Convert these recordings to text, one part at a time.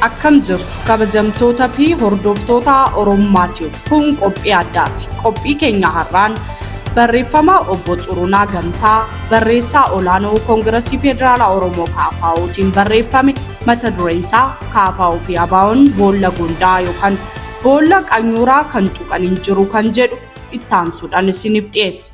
Akkam jirtu kabajamtoota fi hordoftoota Oromummaa Tube. Kun qophii addaati. Qophii keenya har'aan barreeffama obbo Xurunaa Gamtaa barreessaa olaanoo Koongirasii Federaalaa Oromoo KFOtiin barreeffame mata dureen isaa KFO fi ABOn boolla gondaa yookaan boolla qanyooraa kan tuqan hin jiru kan jedhu ittaansuudhaan isiniif dhiyeessa.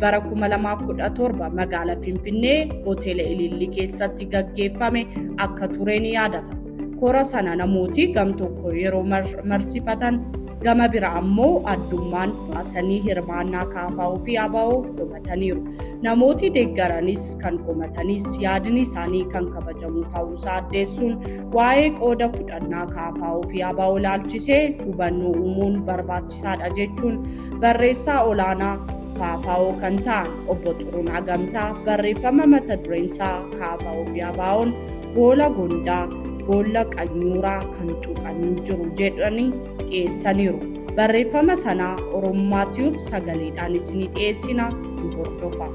bara 2017 magaala Finfinnee hoteela Ilillii keessatti gaggeeffame akka ture ni yaadata. Kora sana namooti gam tokko yeroo marsifatan gama bira ammoo addummaan baasanii hirmaannaa kaafaa'uu fi abaa'oo qomataniiru. Namooti deeggaranis kan qomatanis yaadni isaanii kan kabajamu ta'uusaa addeessuun waa'ee qooda fudhannaa kaafaa'uu fi abaa'oo ilaalchisee hubannoo uumuun barbaachisaadha jechuun Barreessaa olaanaa Faafaawoo kan ta'an obbo Xurunaa Gamtaa barreeffama mata dureen isaa Kaafaawoo fi Abaawoon boola gondaa boolla qanyuuraa kan tuqanii jiru jedhanii dhiyeessaniiru. Barreeffama sanaa Oromummaa Tiyuub sagaleedhaan isinii dhiyeessina nu hordofa.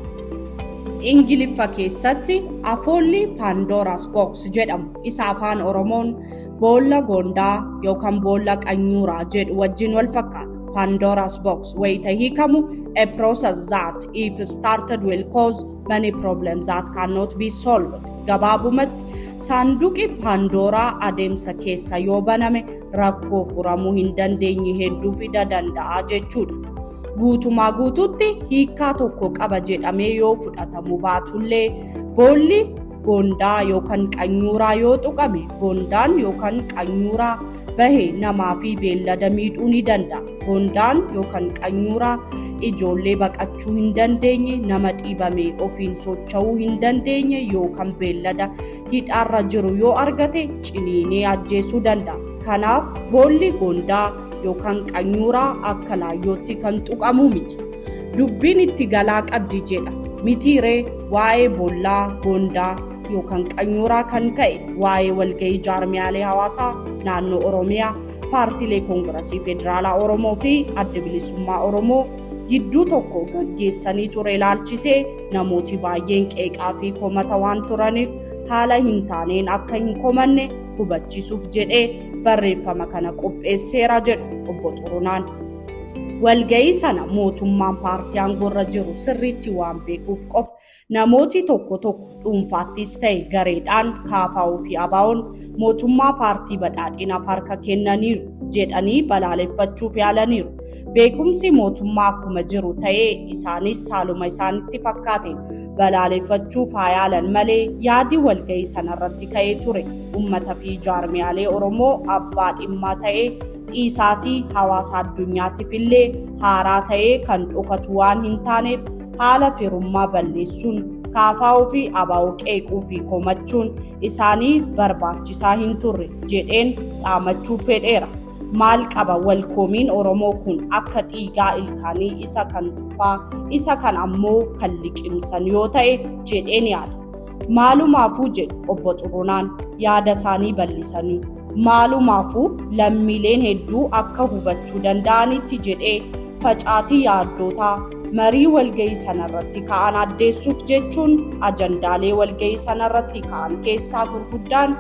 Ingiliffa keessatti afoolli Paandooraas Books jedhamu isa afaan Oromoon boolla gondaa yookaan boolla qanyuuraa jedhu wajjin wal fakkaata. Pandora's box wayita hiikamu a process that if started will cause many problems that cannot be solved. Gabaabumatti saanduqi Pandooraa adeemsa keessa yoo baname rakkoo furamuu hin dandeenye hedduu fida danda'a jechuudha. Guutumaa guutuutti hiikaa tokko qaba jedhamee yoo fudhatamu baatullee boolli Goondaa yookan qanyuuraa yoo tuqame goondaan yookan qanyuuraa bahe namaa fi beellada miidhuu ni danda'a. Goondaan yookan qanyuuraa ijoollee baqachuu hin dandeenye, nama dhiibame ofiin socho'uu hin dandeenye yookan beellada hidhaarra jiru yoo argate ciniinee ajjeesuu danda'a. Kanaaf boolli goondaa yookan qanyuuraa akka laayyootti kan tuqamu miti. Dubbiin itti galaa qabdi jedha. Mitii ree waa'ee boollaa, goondaa yookaan qanyooraa kan ka'e waa'ee walga'ii jaarmiyaalee hawaasaa naannoo Oromiyaa, paartiilee koongirasii federaalaa Oromoo fi adda bilisummaa Oromoo gidduu tokko gaggeessanii ture ilaalchisee namooti baay'een qeeqaa fi komata waan turaniif haala hin taaneen akka hin komanne hubachiisuuf jedhee barreeffama kana qopheesseera jedhu obbo Xurunaan. Walga'ii sana mootummaan paartii aangoorra jiru sirriitti waan beekuuf qofa namooti tokko tokko dhuunfaattis ta'e gareedhaan KFO fi ABOn mootummaa paartii badhaadhinaaf harka kennaniiru jedhanii balaaleffachuuf yaalaniiru. Beekumsi mootummaa akkuma jiru ta'ee isaanis haaluma isaanitti fakkaateen balaaleffachuuf haa yaalan malee yaadi walga'ii sanarratti ka'ee ture uummata fi jaarmiyaalee Oromoo abbaa dhimmaa ta'ee dhiisaatii hawaasa addunyaatiif illee haaraa ta'ee kan dhokatu waan hin taaneef haala firummaa balleessuun kaafaa'uu fi abaa'uu qeequu fi komachuun isaanii barbaachisaa hin turre jedheen dhaamachuu fedheera. Maal qaba wal komiin Oromoo kun akka dhiigaa ilkaanii isa kan tufaa isa kan ammoo kan liqimsan yoo ta'e jedheen yaada. Maalumaafuu jedhu obbo Xurunaan yaada isaanii bal'isanii. Maalumaafuu lammiileen hedduu akka hubachuu danda'anitti jedhee facaatii yaaddootaa marii walga'ii sanarratti ka'an addeessuuf jechuun ajandaalee walga'ii sanarratti ka'an keessaa gurguddaan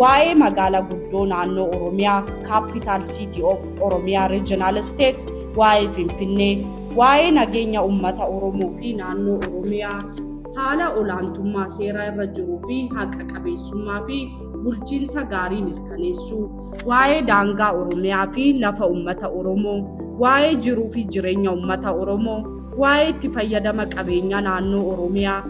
waa'ee magaala guddoo naannoo Oromiyaa, Capital City of Oromia Regional State, waa'ee Finfinnee, waa'ee nageenya uummata Oromoo fi naannoo Oromiyaa, haala olaantummaa seeraa irra jiruu fi haqa qabeessummaa fi bulchiinsa gaarii mirkaneessuu, waa'ee daangaa Oromiyaa fi lafa uummata Oromoo, waa'ee jiruu fi jireenya uummata Oromoo, waa'ee itti fayyadama qabeenya naannoo Oromiyaa,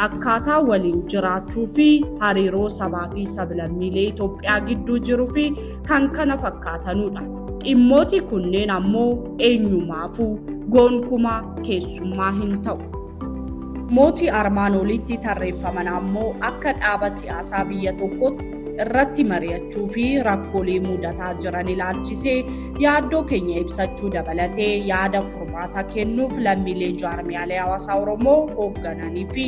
akkaataa waliin jiraachuu fi hariiroo sabaa fi sablammiilee Itoophiyaa gidduu jiruu fi kan kana fakkaatanudha. Dhimmooti kunneen ammoo eenyumaafuu gonkumaa keessummaa hin ta'u. Mooti armaan olitti tarreeffaman ammoo akka dhaaba siyaasaa biyya tokkotti irratti mari'achuu fi rakkoolee mudataa jiran ilaalchisee yaaddoo keenya ibsachuu dabalatee yaada furmaata kennuuf lammiilee jaarmiyaalee hawaasaa Oromoo hooggananii fi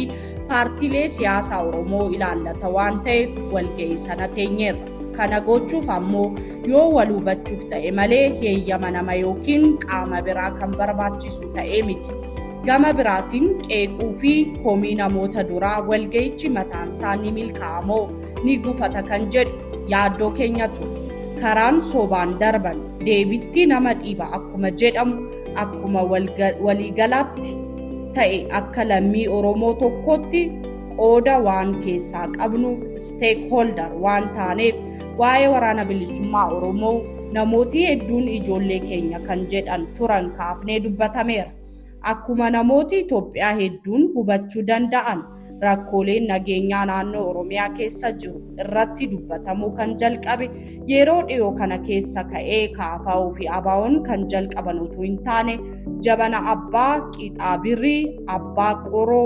paartiilee siyaasaa Oromoo ilaallata waan ta'eef walga'ii sana teenyeerra. Kana gochuuf ammoo yoo wal hubachuuf ta'e malee heeyyama nama yookiin qaama biraa kan barbaachisu ta'ee miti. Gama biraatiin qeequu fi komii namoota duraa walga'ichi mataansaa ni milkaa'a moo ni gufata kan jedhu yaaddoo keenya ture. Karaan sobaan darban deebitti nama dhiiba akkuma jedhamu akkuma waliigalaatti ta'e akka lammii Oromoo tokkootti qooda waan keessaa qabnuuf stakeholder waan taaneef waa'ee waraana bilisummaa Oromoo namooti hedduun ijoollee keenya kan jedhan turan kaafnee dubbatameera. Akkuma namooti Itoophiyaa hedduun hubachuu danda'an rakkooleen nageenyaa naannoo Oromiyaa keessa jiru irratti dubbatamuu kan jalqabe yeroo dhiyoo kana keessa ka'ee kaafaa fi abaawoon kan jalqaban utuu hin taane jabana abbaa qixaa birrii abbaa qoroo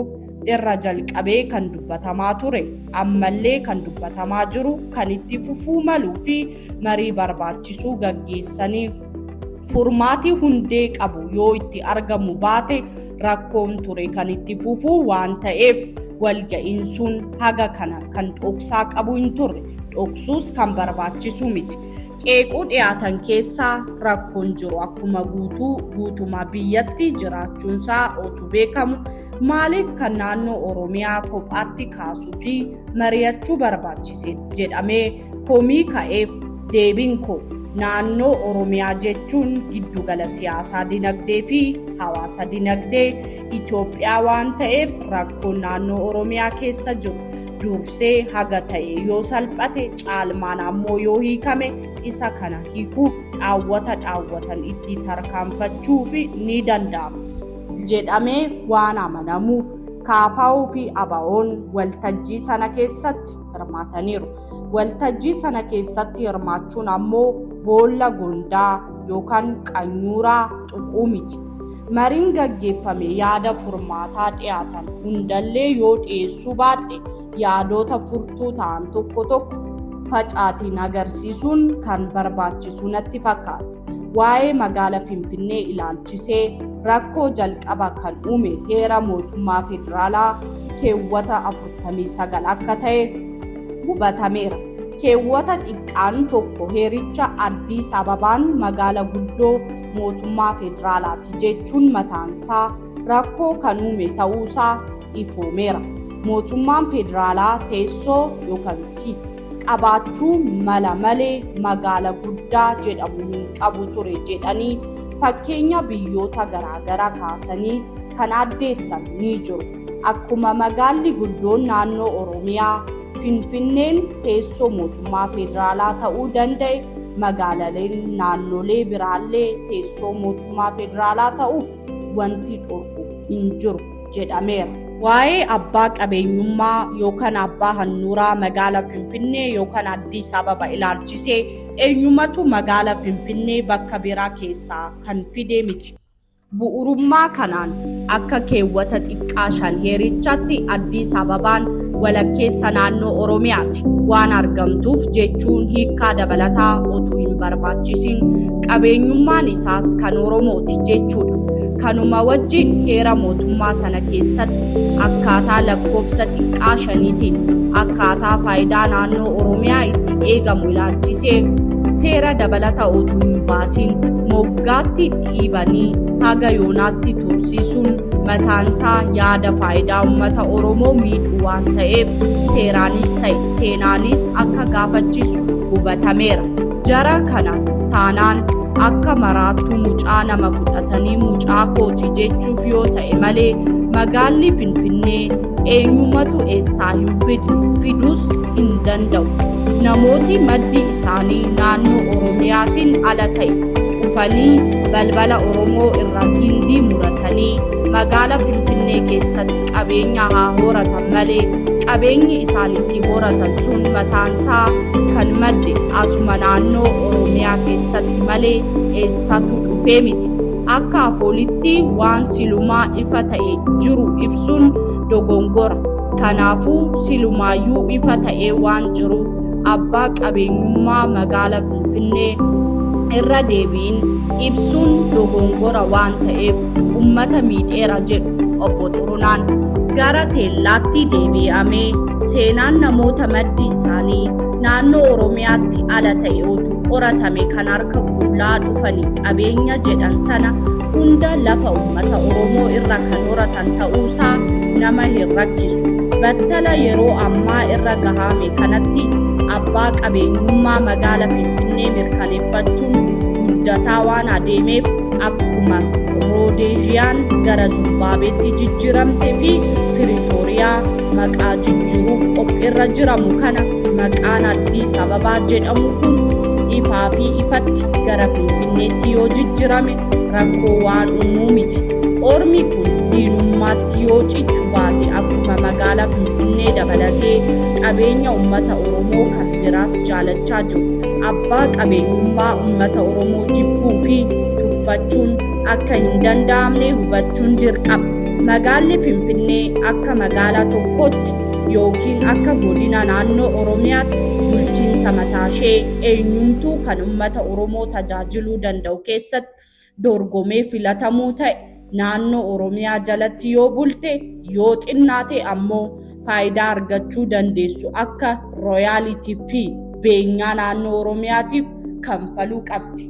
irra jalqabee kan dubbatamaa ture ammallee kan dubbatamaa jiru kan itti fufuu maluu fi marii barbaachisuu gaggeessanii Furmaati hundee qabu yoo itti argamu baate rakkoon ture kan itti fufu waan ta'eef walga'iin sun haga kana kan dhoksaa qabu hin turre dhoksuus kan barbaachisu miti. Qeequu dhiyaatan keessaa rakkoon jiru akkuma guutuu guutumaa biyyatti jiraachuunsaa otu beekamu maaliif kan naannoo Oromiyaa kophaatti kaasuu fi mari'achuu barbaachise jedhamee Komii ka'eef deebiin koo naannoo Oromiyaa jechuun giddugala siyaasaa dinagdee fi hawaasa dinagdee Itoophiyaa waan ta'eef rakkoon naannoo Oromiyaa keessa jiru dursee haga ta'e yoo salphate caalmaan ammoo yoo hiikame isa kana hiikuuf dhaawwata dhaawwatan itti tarkaanfachuuf ni danda'ama jedhamee waan amanamuuf kaafaa'uu fi abaa'oon waltajjii sana keessatti hirmaataniiru. Waltajjii sana keessatti hirmaachuun ammoo boolla gondaa yookaan qanyuuraa tuquu miti. Mariin gaggeeffame yaada furmaataa dhiyaatan hundallee yoo dhiyeessuu baadhe yaadoota furtuu ta'an tokko tokko facaatiin agarsiisuun kan barbaachisu natti fakkaata. Waa'ee magaala Finfinnee ilaalchisee rakkoo jalqaba kan uume heera mootummaa federaalaa keewwata 49 akka ta'e hubatameera. Keewwata xiqqaan tokko heericha Addis Ababaan magaala guddoo mootummaa federaalaati jechuun mataansaa rakkoo kan uume ta'uusaa ifoomeera. Mootummaan federaalaa teessoo yookaan siit qabaachuu mala malee magaala guddaa jedhamu hin qabu ture jedhanii fakkeenya biyyoota garaagaraa kaasanii kan addeessan ni jiru. Akkuma magaalli guddoon naannoo Oromiyaa Finfinneen teessoo mootummaa federaalaa ta'uu danda'e magaalaleen naannolee biraallee teessoo mootummaa federaalaa ta'uuf wanti dhorku hin jiru. jedhameera. Waa'ee abbaa qabeenyummaa yookaan abbaa hannuuraa magaala Finfinnee yookaan Addis Ababa ilaalchisee eenyumatu magaala Finfinnee bakka biraa keessaa kan fide miti. Bu'urummaa kanaan akka keewwata xiqqaa shan heerichaatti Addis Ababaan walakkeessa naannoo Oromiyaati waan argamtuuf jechuun hiikkaa dabalataa otuu hin barbaachisin qabeenyummaan isaas kan Oromooti jechuudha. Kanuma wajjin heera mootummaa sana keessatti akkaataa lakkoofsa xiqqaa shaniitiin akkaataa faayidaa naannoo Oromiyaa itti eegamu ilaalchisee seera dabalata otuu hin baasin moggaatti dhiibanii haga yoonaatti tursiisuun mataansaa yaada faayidaa uummata Oromoo miidhu waan ta'eef seeraanis ta'e seenaanis akka gaafachiisu hubatameera. Jara kana taanaan akka maraattuu mucaa nama fudhatanii mucaa kooti jechuuf yoo ta'e malee magaalli Finfinnee eenyumatu eessaa hin fide fiduus hin danda'u namooti maddi isaanii naannoo oromiyaatiin ala ta'e dhufanii balbala oromoo irra gindii muratanii magaala finfinnee keessatti qabeenya haa horatan malee qabeenyi isaan itti horatan sun mataansaa kan madde asuma naannoo oromiyaa keessatti malee eessatu dhufee miti Akka afoolitti waan silumaa ifa ta'e jiru ibsuun dogongora. Kanaafuu silumaayyuu ifa ta'ee waan jiruuf abbaa qabeenyummaa magaala Finfinnee irra deebiin ibsuun dogongora waan ta'eef ummata miidheera jedhu obbo Xurunaan. Gara teellaatti deebii'amee seenaan namoota maddi isaanii naannoo Oromiyaatti ala ta'e otuu qoratame kan harka qullaa dhufani qabeenya jedhan sana hunda lafa ummata Oromoo irra kan horatan ta'uusaa nama hin rakkisu. Battala yeroo ammaa irra gahame kanatti abbaa qabeenyummaa magaala Finfinnee mirkaneeffachuun guddataa waan adeemeef akkuma Roodeeziyaan gara Zumbaabeetti jijjiiramte fi Piriitooriyaa maqaa jijjiiruuf qophiirra jiramu kana Maqaan Addis Ababaa jedhamu kun ifaa fi ifatti gara Finfinneetti yoo jijjirame rakkoo waan uumuu miti. Ormi kun diinummaatti yoo cichu baate akkuma magaalaa Finfinnee dabalatee qabeenya uummata Oromoo kan biraas jaalachaa jiru. Abbaa qabeenyummaa uummata Oromoo jibbuu fi tuffachuun akka hin danda'amne hubachuun dirqama. Magaalli Finfinnee akka magaalaa tokkootti yookiin akka godina naannoo Oromiyaatti bulchiinsa mataashee eenyumtuu kan ummata Oromoo tajaajiluu danda'u keessatti dorgomee filatamuu ta'e naannoo Oromiyaa jalatti yoo bulte yoo xinnaate ammoo faayidaa argachuu dandeessu akka royaalitii fi beenyaa naannoo Oromiyaatiif kanfaluu qabdi.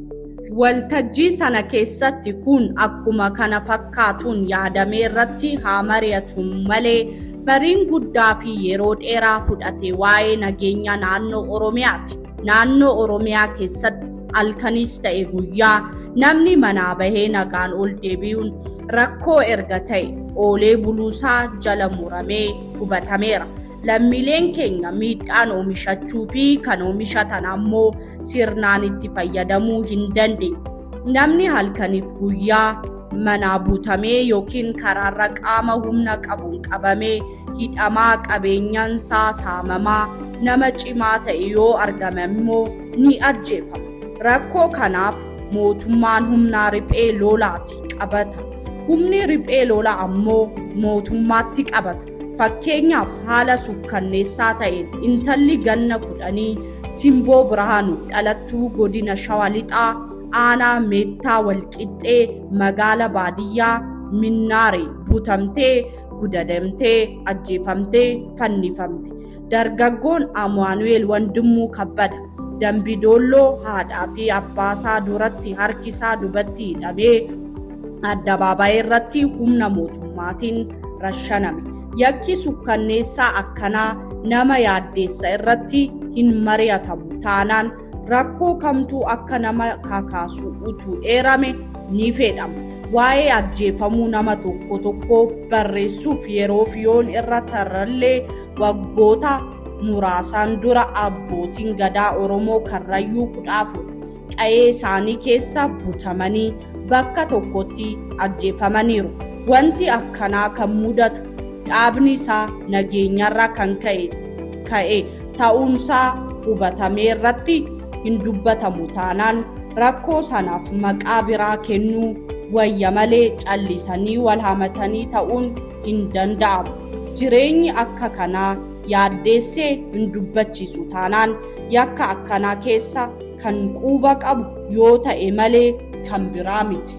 Waltajjii sana keessatti kun akkuma kana fakkaatuun yaadamee irratti haa mari'atu malee mariin guddaa fi yeroo dheeraa fudhate waa'ee nageenya naannoo Oromiyaati. Naannoo Oromiyaa keessatti halkaniis ta'e guyyaa namni manaa bahee nagaan ol deebi'uun rakkoo erga ta'e oolee buluusaa jala muramee hubatameera. Lammiileen keenya miidhaan oomishachuu fi kan oomishatan ammoo sirnaan itti fayyadamuu hin dandeenye. Namni halkaniif guyyaa manaa butamee yookiin karaarra qaama humna qabuun qabamee hidhamaa qabeenyansaa saamamaa nama cimaa ta'e yoo argame immoo ni ajjeefama. Rakkoo kanaaf mootummaan humnaa riphee lolaati qabata. Humni riphee lola ammoo mootummaatti qabata. Fakkeenyaaf haala sukkanneessaa ta'een intalli ganna kudhanii Simboo Birhaanu dhalattuu godina Shawa Lixaa aanaa Meettaa Walqixxee magaala baadiyyaa Minnaaree butamtee gudadamtee ajjeefamtee fannifamte. Dargaggoon Amaanu'eel Wandimmuu Kabbada Dambidoolloo haadhaa fi abbaasaa duratti harki isaa dubatti hidhamee addabaabaayii irratti humna mootummaatiin rashaname. Yakki sukkanneessaa akkanaa nama yaaddeessa irratti hin mari'atamu taanaan Rakkoo kamtuu akka nama kakaasu utuu eerame ni fedhama. Waa'ee ajjeefamuu nama tokko tokko barreessuuf yeroof yoon irra tarrallee waggoota muraasaan dura abbootiin gadaa Oromoo Karrayyuu kudha afur qa'ee isaanii keessa butamanii bakka tokkotti ajjeefamaniiru. Wanti akkanaa kan mudatu dhaabni isaa nageenyarraa kan ka'e ta'uunsaa hubatamee irratti hin dubbatamu taanaan rakkoo sanaaf maqaa biraa kennuu wayya malee callisanii wal hamatanii ta'uun hin danda'amu. Jireenyi akka kanaa yaaddeessee hin dubbachiisu taanaan yakka akkanaa keessa kan quuba qabu yoo ta'e malee kan biraa miti.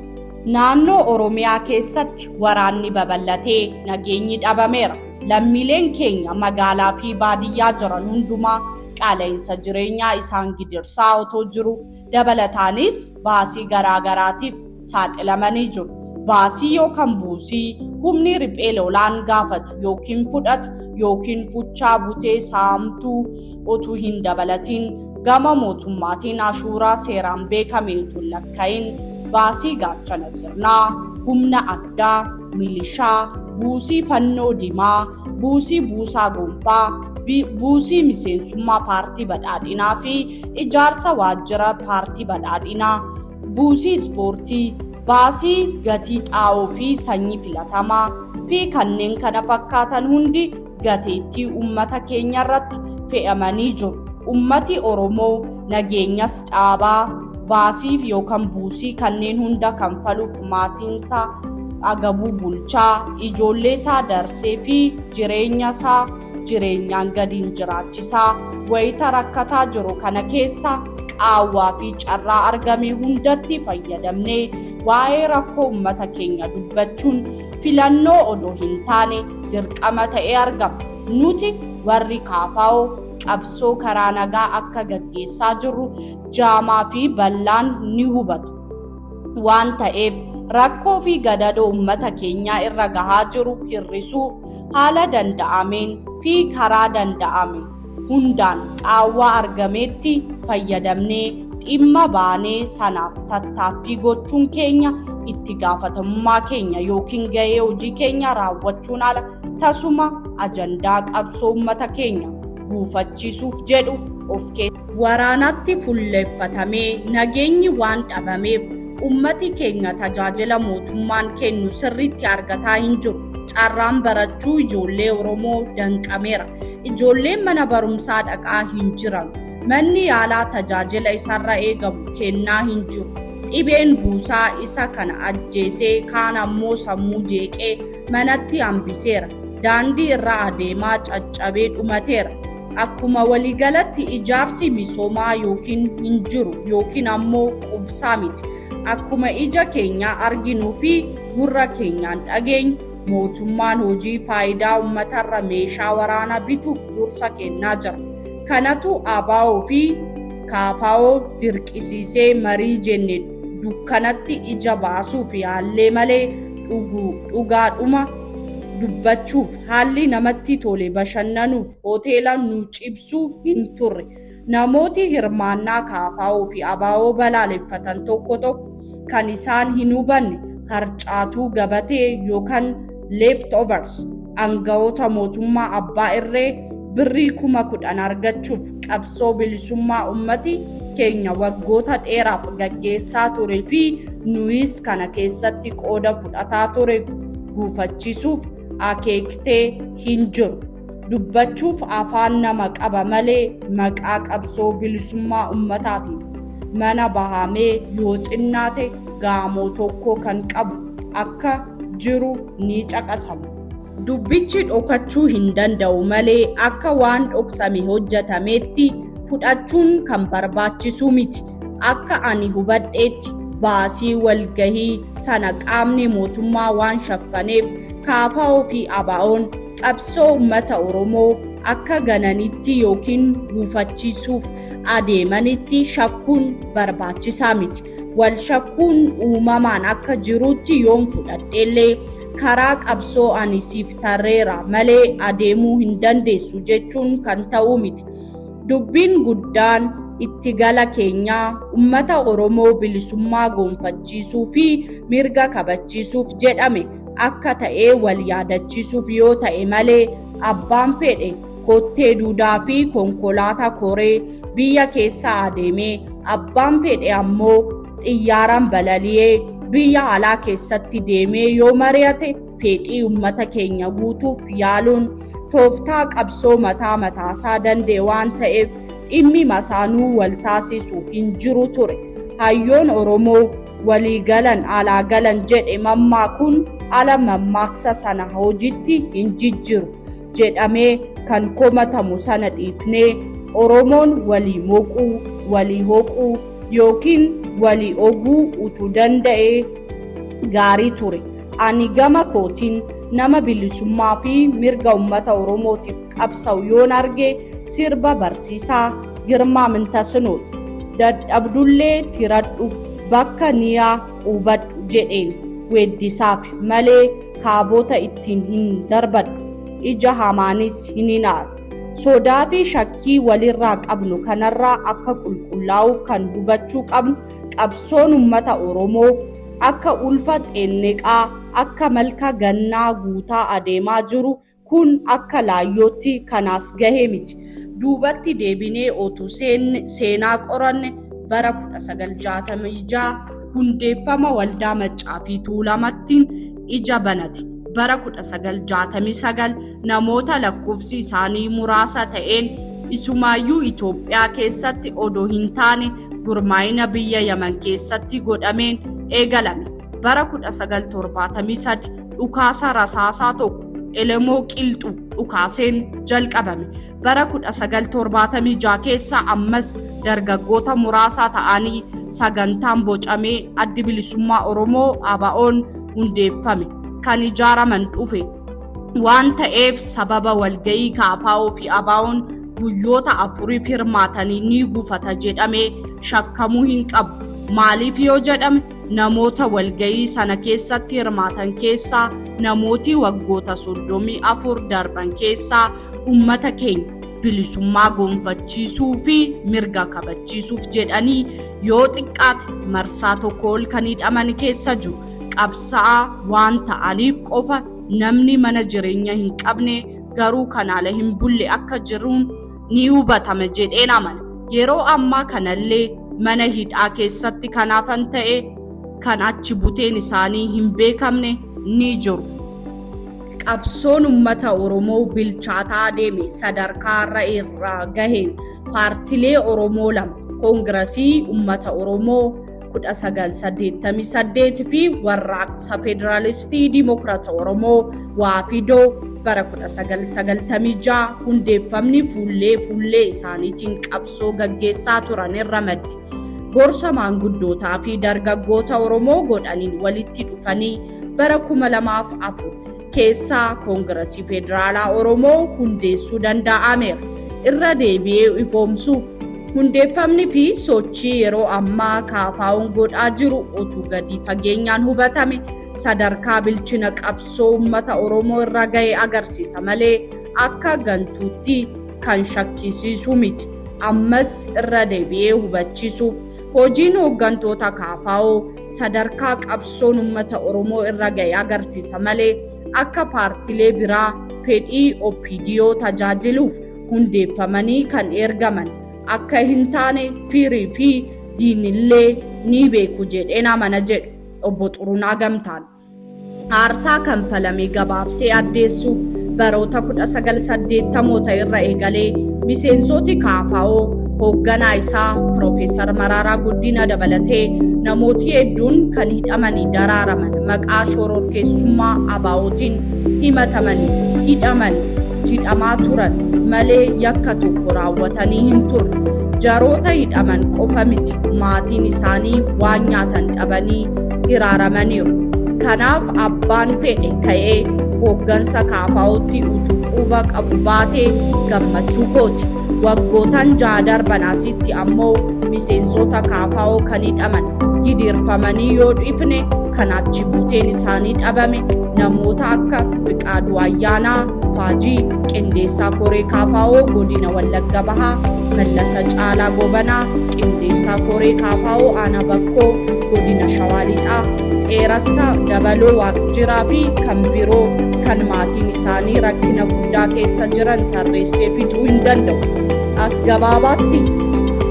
Naannoo Oromiyaa keessatti waraanni babal'atee nageenyi dhabameera. Lammiileen keenya magaalaa fi baadiyyaa jiran hundumaa qaala'insa jireenyaa isaan gidirsaa otoo jiru dabalataanis baasii garaagaraatiif saaxilamanii jiru. Baasii yookan buusii humni riphee lolaan gaafatu yookiin fudhatu yookiin fuchaa butee saamtuu otuu hin dabalatiin gama mootummaatiin ashuuraa seeraan beekame utuu hin lakka'in baasii gaachana sirnaa, humna addaa, milishaa, buusii fannoo dimaa, buusii buusaa gonfaa, bi- buusii miseensummaa paartii badhaadhinaa fi ijaarsa waajjira paartii badhaadhinaa, buusii ispoortii, baasii gatii xaa'oo fi sanyii filatamaa fi kanneen kana fakkaatan hundi gateettii ummata keenya irratti fe'amanii jiru. Ummati Oromoo nageenyas dhaabaa baasiif yookaan buusii kanneen hunda kanfaluuf maatiinsaa agabuu bulchaa ijoollee isaa darsee fi jireenya isaa jireenyaan gadiin jiraachisaa wayita rakkataa jiru kana keessa qaawwaa fi carraa argame hundatti fayyadamnee waa'ee rakkoo ummata keenya dubbachuun filannoo odoo hin taane dirqama ta'ee argama. Nuti warri KFO qabsoo karaa nagaa akka gaggeessaa jirru jaamaa fi bal'aan ni hubatu. Waan ta'eef rakkoo fi gadadoo uummata keenyaa irra gahaa jiru hir'isuuf haala danda'ameen fi karaa danda'ame hundaan qaawwaa argameetti fayyadamnee dhimma baanee sanaaf tattaaffii gochuun keenya itti gaafatamummaa keenya yookiin gahee hojii keenya raawwachuun ala tasuma ajandaa qabsoo uummata keenya guufachiisuuf jedhu of keessa waraanatti fulleffatamee nageenyi waan dhabameef ummati keenya tajaajila mootummaan kennu sirriitti argataa hin jiru. Carraan barachuu ijoollee Oromoo danqameera. Ijoolleen mana barumsaa dhaqaa hin jiran. Manni yaalaa tajaajila isarra eegamu kennaa hin jiru. Dhibeen buusaa isa kana ajjeesee kaan ammoo sammuu jeeqee manatti hambiseera. Daandii irra adeemaa caccabee dhumateera. Akkuma waliigalatti ijaarsi misoomaa yookiin hin jiru yookiin ammoo qubsaa miti. Akkuma ija keenyaa arginuu fi gurra keenyaan dhageenyu Mootummaan hojii faayidaa uummatarra meeshaa waraanaa bituuf dursa kennaa jira. Kanatu ABO fi KFO dirqisiisee marii jenne dukkanatti ija baasuuf yaallee malee dhugaadhuma dubbachuuf haalli namatti tole bashannanuuf hoteela nu cibsu hin turre. Namooti hirmaannaa KFO fi abo balaaleffatan tokko tokko kan isaan hin hubanne harcaatuu gabatee yookan left overs angawoota mootummaa abbaa irree birrii kuma kudhan argachuuf qabsoo bilisummaa ummati keenya waggoota dheeraaf gaggeessaa ture fi nuyis kana keessatti qooda fudhataa ture guufachiisuuf akeektee hin jiru. dubbachuuf afaan nama qaba malee maqaa qabsoo bilisummaa ummataatiin mana bahamee yoo xinnaate gaamoo tokko kan qabu akka jiru ni caqasama. Dubbichi dhokachuu hin danda'u malee akka waan dhoksame hojjetameetti fudhachuun kan barbaachisu miti. Akka ani hubadheetti baasii walgahii sana qaamni mootummaa waan shaffaneef kaafaa ofii abaa'oon qabsoo ummata Oromoo akka gananitti yookiin guufachiisuuf adeemanitti shakkuun barbaachisaa miti. Wal shakkuun uumamaan akka jirutti yoon fudhadheellee karaa qabsoo ani siif tarreera malee adeemuu hin dandeessu jechuun kan ta'uu miti. Dubbiin guddaan itti gala keenyaa ummata Oromoo bilisummaa goonfachiisuu fi mirga kabachiisuuf jedhame. akka ta'ee wal yaadachiisuuf yoo ta'e malee abbaan fedhe kottee duudaa fi konkolaataa koree biyya keessa adeemee abbaan fedhe ammoo xiyyaaraan balali'ee biyya alaa keessatti deemee yoo mari'ate fedhii uummata keenya guutuuf yaaluun tooftaa qabsoo mataa mataasaa danda'e waan ta'eef dhimmi masaanuu wal taasisu hin jiru ture hayyoon oromoo walii galan alaa galan jedhe mammaakuun ala mammaaksa sana hojiitti hin jijjiru jedhamee kan komatamu sana dhiifnee Oromoon walii moquu, walii hoquu yookiin walii oguu utuu danda'ee gaarii ture. Ani gama kootiin nama bilisummaa fi mirga uummata Oromootiif qabsa'u yoon arge sirba barsiisaa girmaa mintasinoot dadhabdullee tiradhu bakka niyaa quubadhu jedheen weeddisaaf malee kaabota ittiin hin darbadhu ija hamaanis hin hinaaru sodaa fi shakkii walirraa qabnu kanarraa akka qulqullaa'uuf kan hubachuu qabnu qabsoon ummata oromoo akka ulfa xeenneqaa akka malka gannaa guutaa adeemaa jiru Kun akka laayyootti kan as gahe miti. Duubatti deebinee otuu seenaa qoranne bara 1966 hundeeffama waldaa Maccaa fi Tuulamattiin ija banate. Bara 1969 namoota lakkoofsi isaanii muraasa ta'een isumaayyuu Itoophiyaa keessatti odoo hin taane gurmaa'ina biyya Yaman keessatti godhameen eegalame. Bara 1973 dhukaasa rasaasaa tokko elemoo qilxu dhukaaseen jalqabame bara 1976 keessa ammas dargaggoota muraasaa ta'anii sagantaan bocamee addi bilisummaa oromoo abaa'oon hundeeffame kan ijaaraman dhufe waan ta'eef sababa walga'ii kaafaa'oo fi abaa'oon guyyoota afuriif hirmaatanii ni gufata jedhamee shakkamuu hin qabu maaliif yoo jedhame Namoota walga'ii sana keessatti hirmaatan keessaa namooti waggoota 34 darban keessaa uummata keenya bilisummaa gonfachiisuu fi mirga kabachiisuuf jedhanii yoo xiqqaate marsaa tokko ol kan hidhaman keessa jiru qabsa'aa waan ta'aniif qofa namni mana jireenya hin qabne garuu kan ala hin bulle akka jiruun ni hubatama jedheen amana. Yeroo ammaa kanallee mana hidhaa keessatti kan hafan ta'e kan achi buteen isaanii hin beekamne ni jiru. Qabsoon uummata Oromoo bilchaataa deeme sadarkaa irra irraa gaheen paartilee Oromoo lama koongirasii uummata Oromoo 1988 fi warraaqsa Federaalistii Dimokiraata Oromoo Waafidoo bara 1996 hundeeffamni fuullee fuullee isaaniitiin qabsoo gaggeessaa turan irra madde. Gorsa maanguddootaa fi dargaggoota Oromoo godhaniin walitti dhufanii bara 2004 keessaa koongirasii federaalaa oromoo hundeessuu danda'ameera irra deebi'ee ifoomsuuf hundeeffamni fi sochii yeroo ammaa kaafaa'uun godhaa jiru utuu gadi fageenyaan hubatame sadarkaa bilchina qabsoo uummata oromoo irra ga'e agarsiisa malee akka gantuutti kan shakkisiisu miti ammas irra deebi'ee hubachiisuuf hojiin hooggantoota kaafaa'oo sadarkaa qabsoon ummata Oromoo irra ga'e agarsiisa malee akka paartilee biraa fedhii OPDO tajaajiluuf hundeeffamanii kan ergaman akka hin taane firii fi diinillee ni beeku jedheen amana jedhu obbo Xurunaa Gamtaan. Aarsaa kanfalame gabaabsee addeessuuf baroota 1980moota irra eegalee miseensooti kaafaa'oo hoogganaa isaa Piroofeesar Maraaraa Guddina dabalatee namooti hedduun kan hidhamanii daraaraman maqaa shororkeessummaa ABOtiin himatamanii hidhamanii hidhamaa turan malee yakka tokko raawwatanii hin turre. Jaroota hidhaman qofa miti maatiin isaanii waan nyaatan dhabanii hiraaramaniiru. Kanaaf abbaan fedhe ka'ee hooggansa kaafaa'utti utuu quba qabu baatee gammachuu kooti. Waggootan jaha darban asitti ammoo miseensota kaafaa'oo kan hidhaman gidiirfamanii yoo dhiifne kan achi buuteen isaanii dhabame namoota akka Fiqaaduu Ayyaanaa, Faajii qindeessaa koree kaafaawoo godina Wallagga Bahaa Mallasa Caalaa Gobanaa qindeessaa koree kaafaawoo Aanaa Bakkoo godina Shawaa Lixaa Dheerassaa Dabaloo Waaqjiraa fi kan biroo kan maatiin isaanii rakkina guddaa keessa jiran tarreessee fixuu hin danda'u. As gabaabaatti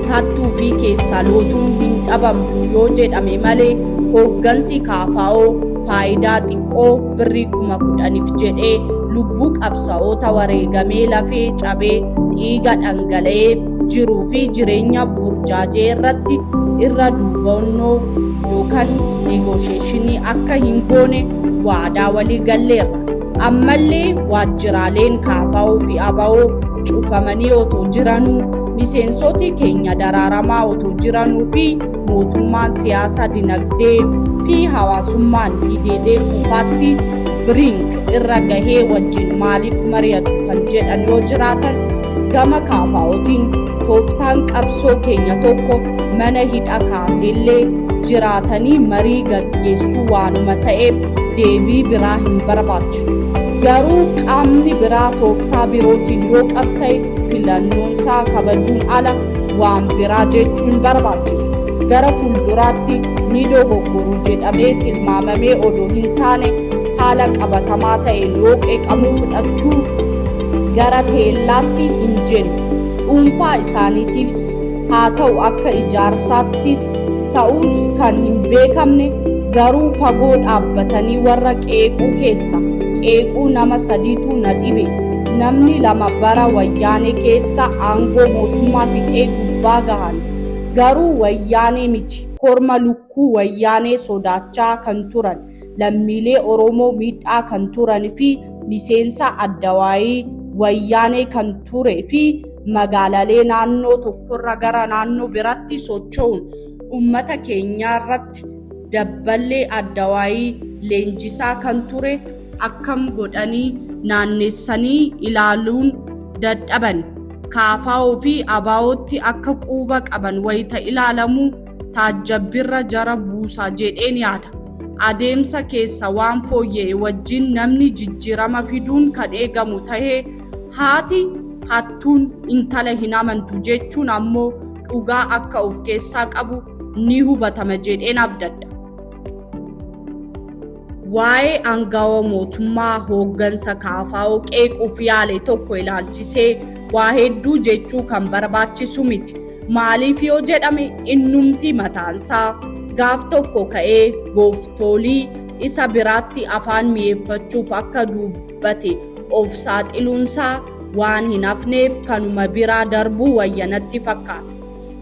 hattuu fi keessaa lootuun hin dhabamtu yoo jedhame malee hooggansi kaafaawoo faayidaa xiqqoo birrii kuma kudhaniif jedhee lubbuu qabsa'oota wareegamee lafee cabee dhiiga dhangala'ee jiruu fi jireenya burjaajee irratti irra duubannoo yookaan negoosheeshinii akka hin goone waadaa walii galleerra. Ammallee waajjiraaleen kaafa'oo fi aba'oo cufamanii otoo jiranuu miseensoti keenya daraaramaa otoo jiranuu fi mootummaan siyaasa dinagdee fi hawaasummaan diideedee kufaatti biriink irra gahee wajjin maaliif mari'atu kan jedhan yoo jiraatan gama kaafaa'otiin tooftaan qabsoo keenya tokko mana hidha kaaseellee jiraatanii marii gaggeessuu waanuma ta'eef deebii biraa hin barbaachisu. Garuu qaamni biraa tooftaa birootiin yoo qabsa'e filannoonsaa kabajuun ala waan biraa jechuun barbaachisu gara fuulduraatti ni dogoggoru jedhamee tilmaamamee odoo hin taane haala qabatamaa ta'een yoo qeeqamuu fudhachuu gara teellaatti hin jennu dhuunfaa isaaniitiifis haa ta'u akka ijaarsaattis ta'us kan hin beekamne garuu fagoo dhaabbatanii warra qeequu keessa qeequu nama sadiitu na dhibe Namni lama bara wayyaanee keessa aangoo mootummaa fixee gubbaa gahan garuu wayyaanee miti korma lukkuu wayyaanee sodaachaa kan turan lammiilee Oromoo miidhaa kan turan fi miseensa addawaayii wayyaanee kan ture fi magaalalee naannoo tokkorra gara naannoo biratti socho'uun ummata keenyaarratti dabballee addawaayii leenjisaa kan ture akkam godhanii naannessanii ilaaluun dadhaban kaafaa'oo fi abaa'ootti akka quuba qaban wayita ilaalamu taajjabbirra jara buusa jedheen yaada. Adeemsa keessa waan fooyya'e wajjin namni jijjiirama fiduun kan eegamu tahee haati hattuun intala hin amantu jechuun ammoo dhugaa akka of keessaa qabu ni hubatama jedheen abdadha. Waa'ee aangawa mootummaa hooggansa kaafaa'oo qeequuf yaale tokko ilaalchisee waa hedduu jechuu kan barbaachisu miti. Maaliif yoo jedhame innumti mataansaa gaaf tokko ka'ee gooftoolii isa biraatti afaan mi'eeffachuuf akka dubbate of saaxiluunsaa waan hin hafneef kanuma biraa darbuu wayya natti fakkaata.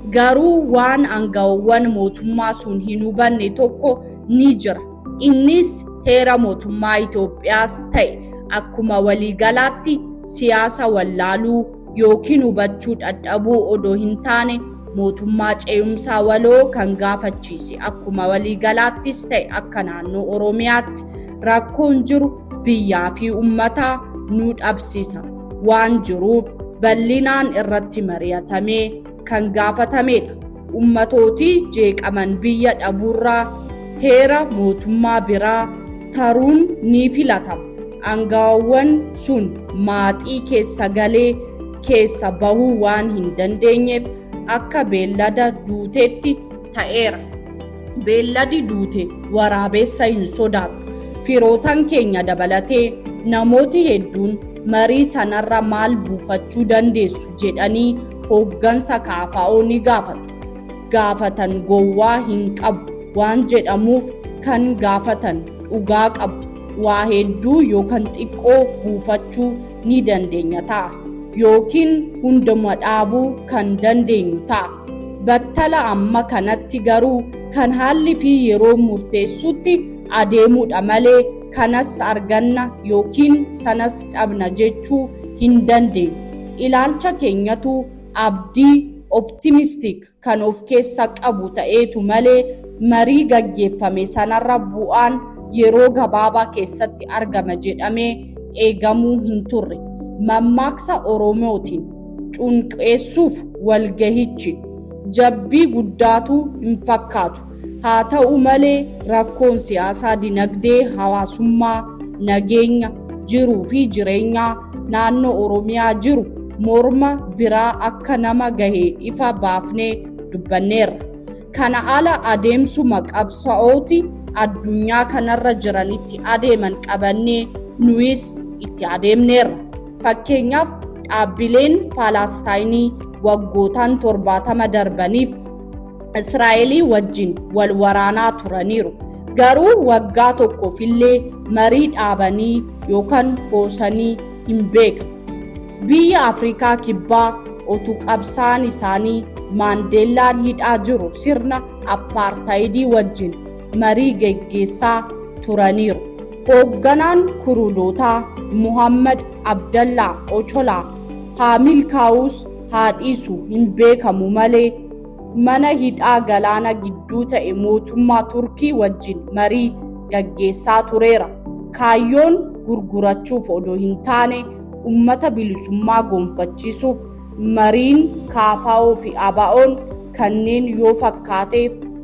Garuu waan aangawowwan mootummaa sun hin hubanne tokko ni jira. Innis heera mootummaa Itoophiyaas ta'e akkuma waliigalaatti siyaasa wallaaluu ykn hubachuu dhadhabuu odoo hin taane mootummaa ce'umsaa waloo kan gaafachiise akkuma waliigalaattis ta'e akka naannoo Oromiyaatti rakkoon jiru biyyaa fi ummataa nu dhabsisa waan jiruuf bal'inaan irratti mari'atamee kan gaafatamedha. Ummatooti jeeqaman biyya dhabuurraa heera mootummaa biraa taruun ni filatama. Angaawwan sun maaxii keessa galee keessa bahuu waan hin dandeenyeef akka beellada duuteetti ta'eera. Beelladi duute waraabeessa hin sodaatu. Firootan keenya dabalatee namooti hedduun marii sanarra maal buufachuu dandeessu jedhanii hooggansa KFO ni gaafatu. Gaafatan gowwaa hin qabu waan jedhamuuf kan gaafatan dhugaa qabu. Waa hedduu yookan xiqqoo buufachuu ni dandeenya ta'a. Yookiin hunduma dhaabuu kan dandeenyu ta'a. Battala amma kanatti garuu kan haalli fi yeroon murteessutti adeemuudha malee kanas arganna yookiin sanas dhabna jechuu hin dandeenyu. Ilaalcha keenyatu abdii, optimistic, kan of keessa qabu ta'eetu malee marii gaggeeffame sanarra bu'aan yeroo gabaabaa keessatti argama jedhamee eegamuu hin turre. Mammaaksa Oromootiin. cunqeessuuf walgahichi jabbii guddaatu hin fakkaatu. Haa ta'u malee rakkoon siyaasaa, dinagdee, hawaasummaa, nageenya, jiruu fi jireenyaa naannoo Oromiyaa jiru morma biraa akka nama gahe ifa baafnee dubbanneerra. Kana ala adeemsuma qabsa'ooti addunyaa kanarra jiranitti adeeman qabannee nuyis itti adeemneerra. Fakkeenyaaf dhaabbileen Paalaastaaynii waggootaan torbaatama darbaniif Israa'elii wajjin wal waraanaa turaniiru. Garuu waggaa tokkoof illee marii dhaabanii yookaan hoosanii hin beekne. Biyya Afrikaa Kibbaa otuu qabsaan isaanii Maandeellaan hidhaa jiru sirna appaartaayidii wajjin marii geggeessaa turaniiru. Hoogganaan Kuruulootaa Muhammad Abdallaa Ocholaa haa milkaa'uus haa dhiisu hin beekamu malee mana hidhaa galaana gidduu ta'e mootummaa Turkii wajjin marii gaggeessaa tureera. Kaayyoon gurgurachuuf odoo hin taane ummata bilisummaa gonfachiisuuf mariin KFO fi ABOn kanneen yoo fakkaate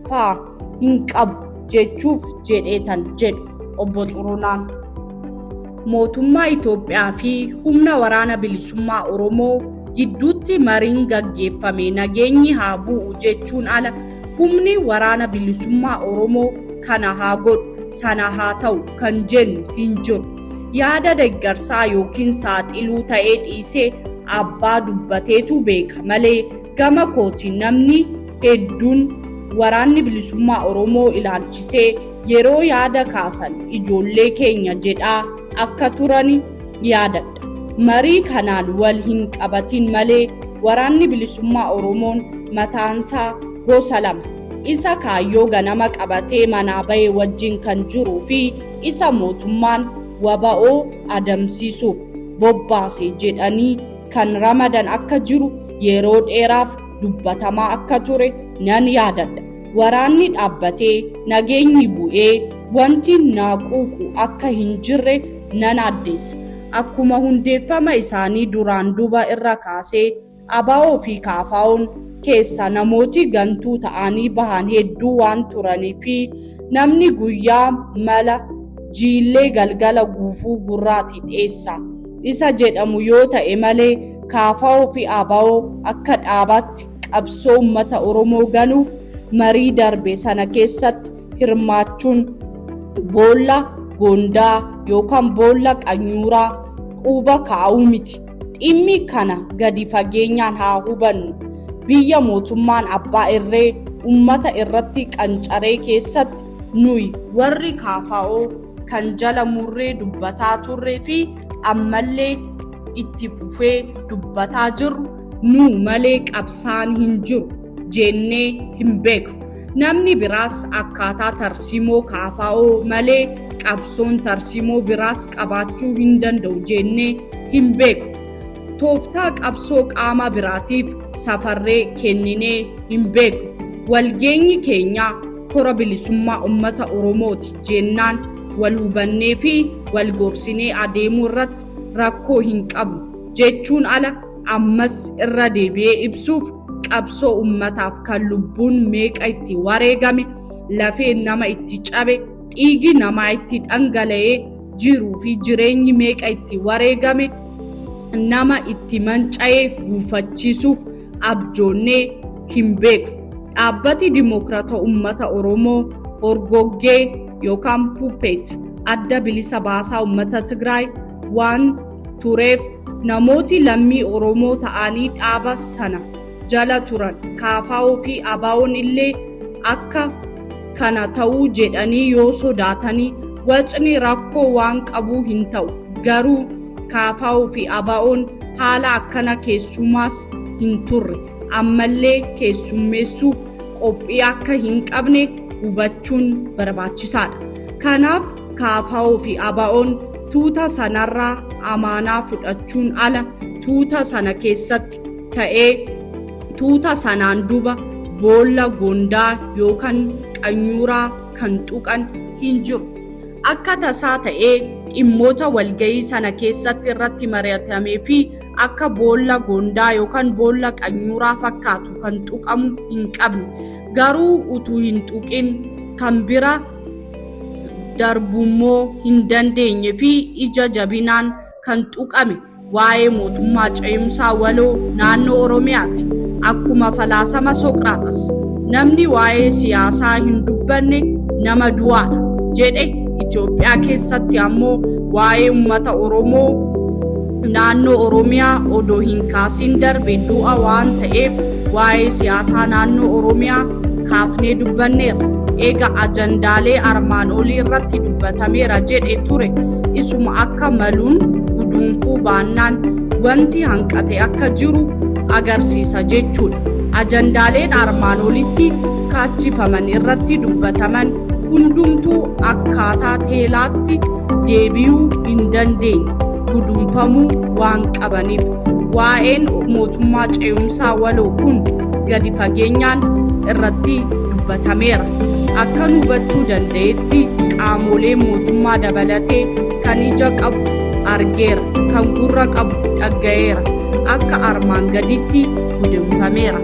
fa'a. hin qabu jechuuf jedheetan jedhu obbo Xurunaan. Mootummaa Itoophiyaa fi humna waraana bilisummaa Oromoo gidduutti mariin gaggeeffame nageenyi haa bu'u jechuun ala humni waraana bilisummaa Oromoo kana haa godhu sana haa ta'u kan jennu hin jiru. Yaada deeggarsaa yookiin saaxiluu ta'ee dhiisee abbaa dubbateetu beeka malee Gama kootiin namni hedduun waraanni bilisummaa Oromoo ilaalchisee yeroo yaada kaasan ijoollee keenya jedhaa akka turan yaadadha. Marii kanaan wal hin qabatiin malee waraanni bilisummaa Oromoon mataansaa gosa lama. Isa kaayyoo ganama qabatee manaa bahe wajjin kan jiruu fi isa mootummaan wbo adamsiisuuf bobbaase jedhanii kan ramadan akka jiru yeroo dheeraaf dubbatamaa akka ture nan yaadadha. Waraanni dhaabbatee nageenyi bu'ee wanti naa quuqu akka hin jirre nan addeessa. Akkuma hundeeffama isaanii duraan duba irra kaasee ABO fi KFOn keessa namooti gantuu ta'anii bahan hedduu waan turanii fi namni guyyaa mala jiillee galgala guufuu gurraati dheessa. isa jedhamu yoo ta'e malee KFO fi ABO akka dhaabaatti qabsoo uummata Oromoo ganuuf marii darbe sana keessatti hirmaachuun boolla goondaa yookaan boolla qanyuuraa quuba kaa'uu miti. Dhimmi kana gadi fageenyaan haa hubannu. Biyya mootummaan abbaa irree uummata irratti qancaree keessatti nuyi warri KFO kan jala murree dubbataa turree fi ammallee itti fufee dubbataa jirru nu malee qabsaan hin jiru jennee hin beeku. Namni biraas akkaataa tarsiimoo kaafaa'oo malee qabsoon tarsiimoo biraas qabaachuu hin danda'u jennee hin beeku. Tooftaa qabsoo qaama biraatiif safarree kenninee hin beeku. Walgeenyi keenya kora bilisummaa uummata Oromooti. jennaan wal hubannee fi wal gorsinee adeemuu irratti rakkoo hin qabnu jechuun ala ammas irra deebi'ee ibsuuf qabsoo ummataaf kan lubbuun meeqa itti wareegame lafeen nama itti cabe dhiigi namaa itti dhangala'ee jiruu fi jireenyi meeqa itti wareegame nama itti manca'ee guufachiisuuf abjoonnee hin beeknu. Dhaabbati Dimookirata Ummata Oromoo horgoggee yookaan puppet adda bilisa baasaa ummata Tigraay waan tureef namooti lammii Oromoo ta'anii dhaaba sana jala turan KFO fi ABOn illee akka kana ta'uu jedhanii yoo sodaatanii wacni rakkoo waan qabuu hin ta'u garuu Kaafaa'uu fi Abaa'oon haala akkana keessumaas hin turre ammallee keessummeessuuf qophii akka hin qabne hubachuun barbaachisaadha. Kanaaf Kaafaa'uu fi Abaa'oon tuuta sanarraa amaanaa fudhachuun ala tuuta sana keessatti ta'ee tuuta sanaan duba boolla gondaa yookaan qanyuuraa kan tuqan hin jiru. Akka tasaa ta'ee dhimmoota walga'ii sana keessatti irratti mari'atamee fi akka boolla gondaa yookaan boolla qanyuuraa fakkaatu kan tuqamu hin qabne garuu utuu hin tuqin kan bira darbummoo hin dandeenye fi ija jabinaan kan tuqame Waa'ee mootummaa ce'umsaa waloo naannoo Oromiyaati. Akkuma falaasama Soqraaxas, namni waa'ee siyaasaa hin dubbanne nama du'aadha jedhe Itoophiyaa keessatti ammoo waa'ee uummata Oromoo naannoo Oromiyaa odoo hin kaasiin darbe du'a waan ta'eef waa'ee siyaasaa naannoo Oromiyaa kaafnee dubbanneerra. Eega ajandaalee armaan olii irratti dubbatameera jedhe ture. isuma akka maluun guduunfuu baannaan wanti hanqate akka jiru agarsiisa jechuudha. Ajandaaleen armaan olitti kaachifaman irratti dubbataman hundumtuu akkaataa teelaatti deebi'uu hin dandeenye guduunfamuu waan qabaniif waa'een mootummaa ce'umsaa waloo kun gadi fageenyaan irratti dubbatameera. Akkan hubachuu danda'etti Tti qaamolee mootummaa dabalatee kan ija qabu argeera, kan gurra qabu dhagga'eera. Akka armaan gaditti gudunfameera.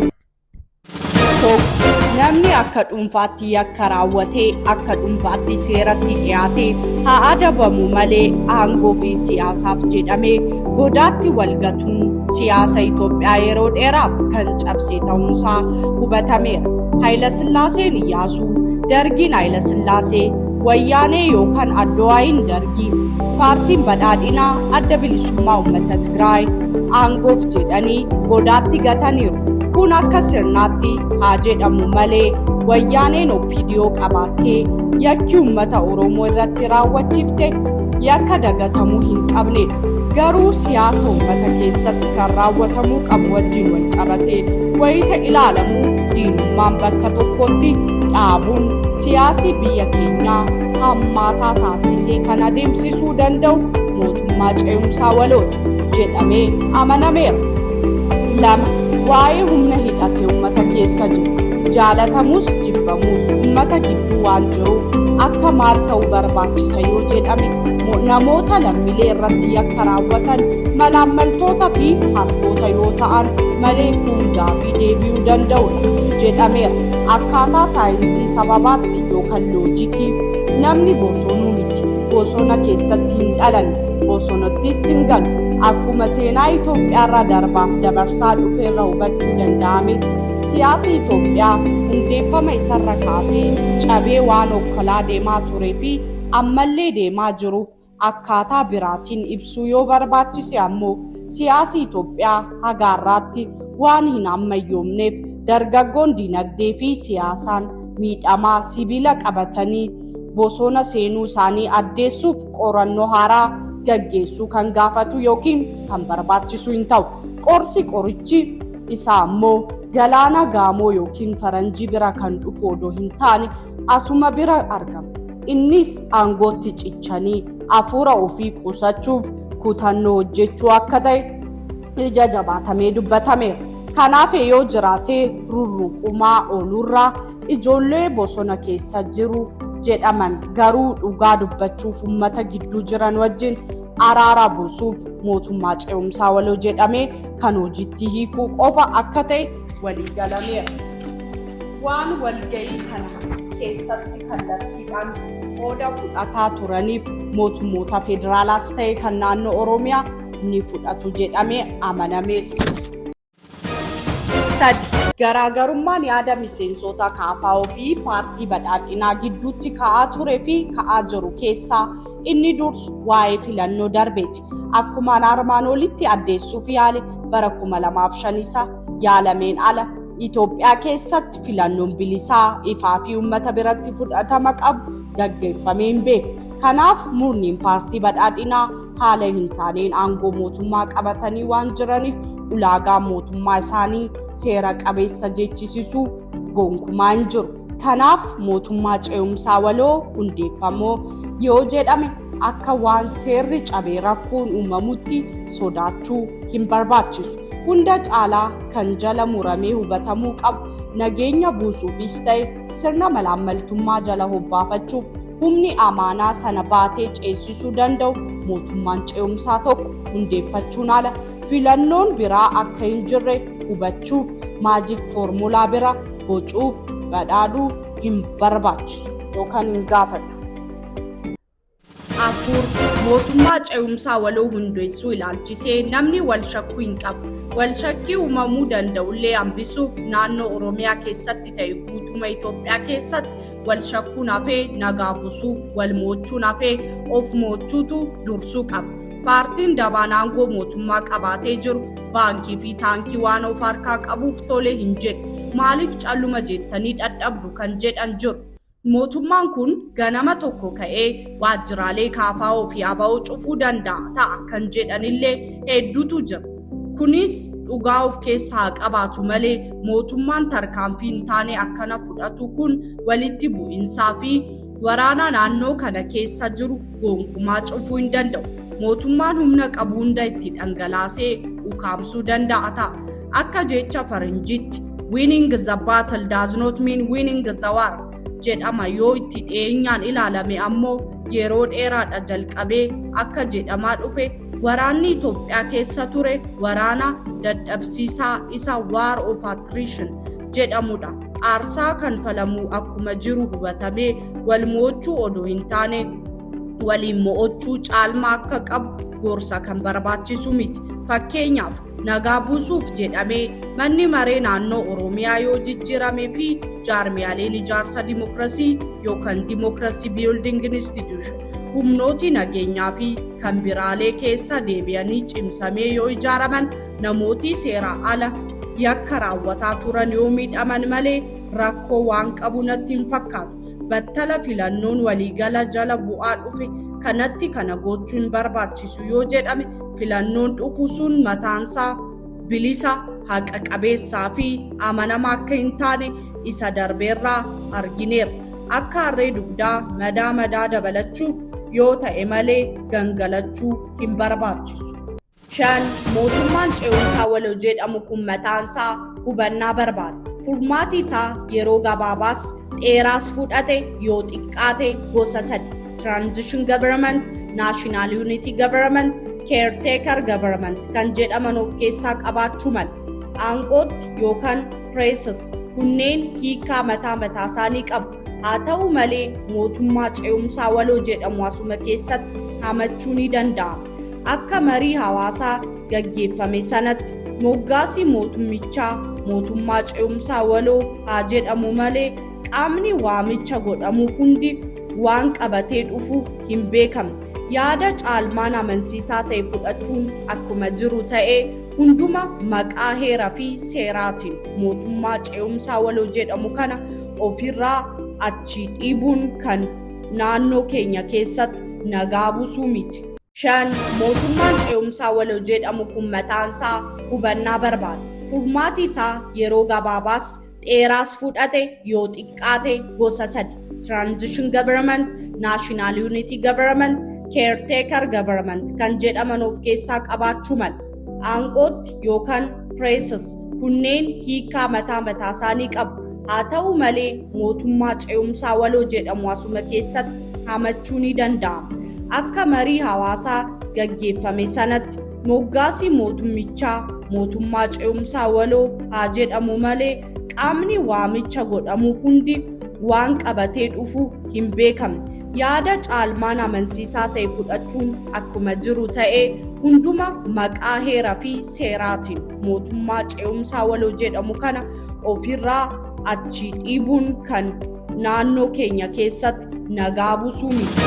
Namni akka dhuunfaatti yakka raawwatee akka dhuunfaatti seeratti dhiyaate haa adabamu malee aangoo fi siyaasaaf jedhamee godaatti walgatuun siyaasa Itoophiyaa yeroo dheeraaf kan cabse ta'uunsaa hubatameera. Hayilasillaaseen Iyyaasuu, Dargiin Hayilasillaasee, Wayyaanee yookaan Addowaayiin Dargii, Paartiin Badhaadhinaa Adda Bilisummaa Uummata Tigraay aangoof jedhanii godaatti gataniiru. Kun akka sirnaatti haa jedhamu malee Wayyaaneen OPDO qabaattee yakki uummata Oromoo irratti raawwachiifte yakka dagatamuu hin qabnedha. garuu siyaasa ummata keessatti kan raawwatamuu qabu wajjin wal qabatee wayita ilaalamu diinummaan bakka tokkotti dhaabuun siyaasii biyya keenyaa hammaataa taasisee kan adeemsisuu danda'u mootummaa ce'umsaa walooti jedhamee amanameera. lama waa'ee humna hidhate ummata keessa jiru jaalatamus jibbamus ummata gidduu waan jiruuf akka maal ta'uu barbaachisa yoo jedhame namoota lammilee irratti yakka raawwatan malaammaltoota fi hattoota yoo ta'an malee kun gaafii deebi'uu danda'udha jedhameera. Akkaataa saayinsii sababaatti yookaan loojikii namni bosonuu miti bosona keessatti hin dhalanne bosonattis hin galu akkuma seenaa Itoophiyaarraa darbaaf dabarsaa dhufeerra hubachuu danda'ametti siyaasi Itoophiyaa hundeeffama isarra kaasee cabee waan okkolaa deemaa turee fi ammallee deemaa jiruuf akkaataa biraatiin ibsuu yoo barbaachise ammoo siyaasi Itoophiyaa haga har'aatti waan hin ammayyoomneef dargaggoon dinagdee fi siyaasaan miidhamaa sibiila qabatanii bosona seenuu isaanii addeessuuf qorannoo haaraa gaggeessuu kan gaafatu yookiin kan barbaachisu hin ta'u. Qorsi qorichi isaa ammoo galaana gaamoo yookiin faranjii bira kan dhufu odoo hin taane asuma bira argama. Innis aangootti cichanii hafuura ofii qusachuuf kutannoo hojjechuu akka ta'e ija jabaatamee dubbatameera. Kanaaf yoo jiraate rurruqumaa oolurraa ijoollee bosona keessa jiru jedhaman garuu dhugaa dubbachuuf uummata gidduu jiran wajjin araara buusuuf mootummaa ce'umsaa waloo jedhamee kan hojiitti hiikuu qofa akka ta'e walii galameera. Waan walga'ii sana keessatti kallattiidhaan qooda fudhataa turaniif mootummoota federaalaas ta'e kan naannoo Oromiyaa ni fudhatu jedhamee amanamee ture. Sadi. Garaagarummaan yaada miseensota kaafaa fi paartii badhaadhinaa gidduutti ka'aa ture fi ka'aa jiru keessaa inni dursu waa'ee filannoo darbeeti. Akkumaan armaan olitti addeessuuf yaale bara 2005 isa yaalameen ala Itoophiyaa keessatti filannoon bilisaa, ifaa fi uummata biratti fudhatama qabu gaggeeffamee hin beeku. Kanaaf murniin paartii badhaadhinaa haala hin taaneen aangoo mootummaa qabatanii waan jiraniif ulaagaa mootummaa isaanii seera qabeessa jechisisuu gonkumaa hin jiru. Kanaaf mootummaa ce'umsaa waloo hundeeffamuu yoo jedhame akka waan seerri cabee rakkoon uumamutti sodaachuu hin barbaachisu. Hunda caalaa kan jala muramee hubatamuu qabu nageenya buusuufis ta'e sirna malaammaltummaa jala hobbaafachuuf humni amaanaa sana baatee ceesisuu danda'u mootummaan ce'umsaa tokko hundeeffachuun ala Filannoon biraa akka hin jirre hubachuuf maajik foormulaa bira bocuuf badhaadhuu hin barbaachisu yookaan hin gaafatu. afur mootummaa ce'umsaa waloo hundeessuu ilaalchisee namni wal shakkuu hin qabu. Wal shakkii uumamuu danda'ullee hambisuuf naannoo Oromiyaa keessatti ta'e guutuma Itoophiyaa keessatti wal shakkuun hafee nagaa busuuf wal moochuun hafee of moochuutu dursuu qaba. Paartiin dabaan aangoo mootummaa qabaatee jiru baankii fi taankii waan of harkaa qabuuf tole hin jedhu. Maaliif calluma jettanii dhadhabdu kan jedhan jiru. Mootummaan kun ganama tokko ka'ee waajjiraalee kaafaa'oo fi aba'oo cufuu danda'a ta'a kan jedhanillee hedduutu jira. Kunis dhugaa of keessaa qabaatu malee mootummaan tarkaanfii hin taane akkana fudhatu kun walitti bu'iinsaa fi Waraana naannoo kana keessa jiru gonkumaa cufuu hin danda'u. Mootummaan humna qabu hunda itti dhangalaasee ukaamsuu danda'a ta'a. Akka jecha faranjiitti winning the battle does not mean winning the war jedhama yoo itti dhiyeenyaan ilaalame ammoo yeroo dheeraadha jalqabee akka jedhamaa dhufe waraanni Itoophiyaa keessa ture waraana dadhabsiisaa isa war of attrition jedhamudha. aarsaa kanfalamuu akkuma jiru hubatamee wal mo'achuu odoo hin taane waliin mo'achuu caalmaa akka qabu gorsa kan barbaachisu miti. Fakkeenyaaf nagaa buusuuf jedhamee manni maree naannoo Oromiyaa yoo jijjiirame fi jaarmiyaaleen ijaarsa dimokirasii yookaan dimokirasii building institution humnooti nageenyaa fi kan biraalee keessa deebi'anii cimsamee yoo ijaaraman Namooti seeraa ala yakka raawwataa turan yoo miidhaman malee rakkoo waan qabu natti hin fakkaatu. Battala filannoon waliigala jala bu'aa dhufe kanatti kana gochuu hin barbaachisu yoo jedhame filannoon dhufu sun mataansaa bilisa, haqa qabeessaa fi amanamaa akka hin taane isa darbeerraa argineerra. Akka harree dugdaa madaa madaa dabalachuuf yoo ta'e malee gangalachuu hin barbaachisu. 5, Mootummaan Ce'umsaa Waloo jedhamu kun mataan isaa hubannaa barbaada. Furmaati isaa yeroo gabaabaas dheeraas fudhate yoo xiqqaate gosa sadi, Transition Government, National Unity Government, Caretaker Government kan jedhaman of keessaa qabaachuu mala. Aangootti yookaan Presses kunneen hiikaa mataa mataa isaanii qabu. Haa ta'u malee mootummaa ce'umsaa waloo jedhamu asuma keessatti hamachuu ni danda'ama. Akka marii hawaasaa gaggeeffame sanatti moggaasii mootummichaa mootummaa ce'umsaa waloo haa jedhamu malee qaamni waamicha godhamuuf hundi waan qabatee dhufu hin beekamne. Yaada caalmaan amansiisaa ta'e fudhachuun akkuma jiru ta'ee hunduma maqaa heeraa fi seeraatiin mootummaa ce'umsaa waloo jedhamu kana ofirraa achi dhiibuun kan naannoo keenya keessatti nagaa buusuu miti. Shan mootummaan ce'umsaa waloo jedhamu kun mataansaa hubannaa barbaada. Furmaati isaa yeroo gabaabaas dheeraas fudhate yoo xiqqaate gosa sadi. Transition Government, National Unity Government, Caretaker Government kan jedhaman of keessaa qabaachuu mala. aangootti yookaan preeses kunneen hiikaa mataa mataa isaanii qabu. Haa ta'u malee mootummaa ce'umsaa waloo jedhamu asuma keessatti hamachuu ni danda'ama. Akka marii hawaasaa gaggeeffame sanatti moggaasii mootummichaa mootummaa ce'umsaa waloo haa jedhamu malee qaamni waamicha godhamuuf hundi waan qabatee dhufu hin beekamne. Yaada caalmaan amansiisaa ta'e fudhachuun akkuma jiru ta'ee hunduma maqaa heera fi seeraatiin mootummaa ce'umsaa waloo jedhamu kana ofirraa achi dhiibuun kan naannoo keenya keessatti nagaa buusuu miti.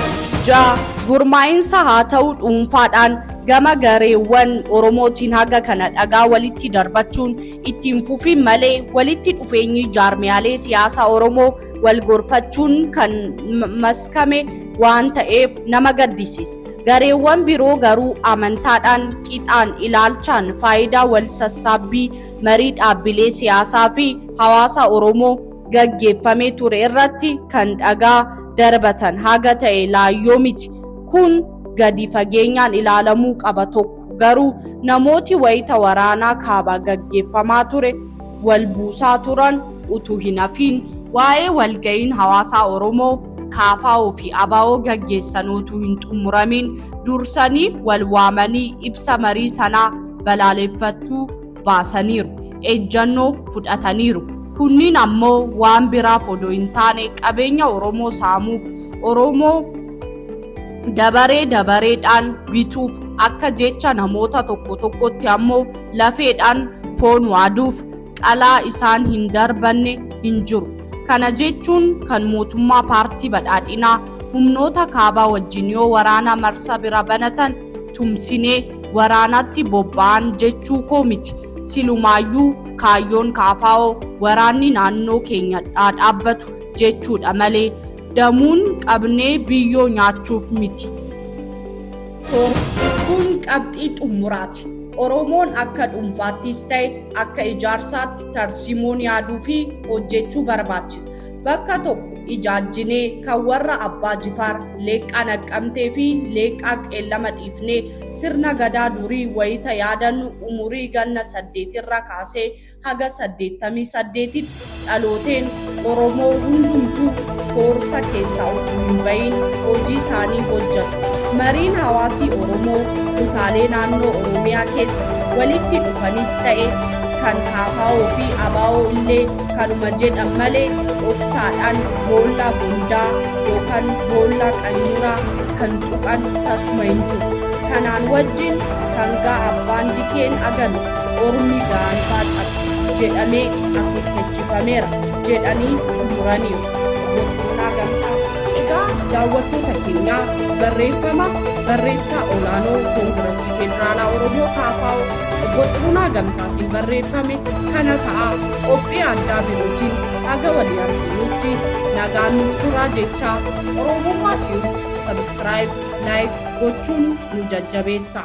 Ja gurmaa'insa haa ta'u dhuunfaadhaan gama gareewwan Oromootiin haga kana dhagaa walitti darbachuun ittiin fufiin malee walitti dhufeenyi jaarmiyaalee siyaasaa Oromoo wal gorfachuun kan maskame waan ta'eef nama gaddisiisa. Gareewwan biroo garuu amantaadhaan, qixaan, ilaalchaan, faayidaa wal sassaabbii marii dhaabbilee siyaasaa fi hawaasa Oromoo gaggeeffamee ture irratti kan dhagaa darbatan haga ta'e laayyoo miti. Kun gadi fageenyaan ilaalamuu qaba tokko. Garuu namooti wayita waraanaa kaabaa gaggeeffamaa ture wal buusaa turan utuu hin hafiin waa'ee walga'iin hawaasaa Oromoo KFO fi abo gaggeessan utuu hin xummuramiin dursanii wal waamanii ibsa marii sanaa balaaleeffattuu baasaniiru, ejjannoo fudhataniiru. Kunniin ammoo waan biraaf odoo hin taane qabeenya Oromoo saamuuf, Oromoo dabaree dabareedhaan bituuf, akka jecha namoota tokko tokkotti ammoo lafeedhaan foon waaduuf qalaa isaan hin darbanne hin jiru. Kana jechuun kan mootummaa paartii badhaadhinaa humnoota kaabaa wajjin yoo waraana marsa bira banatan tumsinee waraanaatti bobba'an jechuu koo miti. Silumaayyuu kaayyoon KFO waraanni naannoo keenya dhaa dhaabbatu jechuudha malee damuun qabnee biyyoo nyaachuuf miti. Kun qabxii xumuraati. Oromoon akka dhuunfaattis ta'e akka ijaarsaatti tarsiimoon yaaduu fi hojjechuu barbaachisa. Bakka tokko ijaajjinee kan warra Abbaa Jifaar, Leeqqaa Naqqamtee fi Leeqqaa Qeellama dhiifnee sirna Gadaa durii wayita yaadannu umurii ganna saddeetirraa kaasee haga saddeettamii saddeetitti dhalooteen Oromoo hundumtuu koorsa keessaa utuu hin bahin hojii isaanii hojjatu. Mariin hawaasii Oromoo kutaalee naannoo Oromiyaa keessa walitti dhufanis ta'e kan KFO fi ABO illee Kanuma jedhan malee dhoksaadhaan boollaa bondaa yookaan boollaa qanyuuraa kan tuqan tasuma hin jiru. Kanaan wajjin sangaa abbaan dikeen aganu ormi gaanfaa cabse jedhamee akeekkachiifameera jedhanii xumuraniiru Obbo Xurunaa Gamtaa. Egaa daawwattoota keenyaa barreeffama barreessaa olaanoo Koongirasii Federaalaa Oromoo KFO Obbo Xurunaa Gamtaa. hin barreeffame kana ta'a qophii addaa birootiin haga walii arginutti nagaan nuuf turaa jechaa oromummaa tiyuub sabiskiraayib laayik gochuun nu jajjabeessa.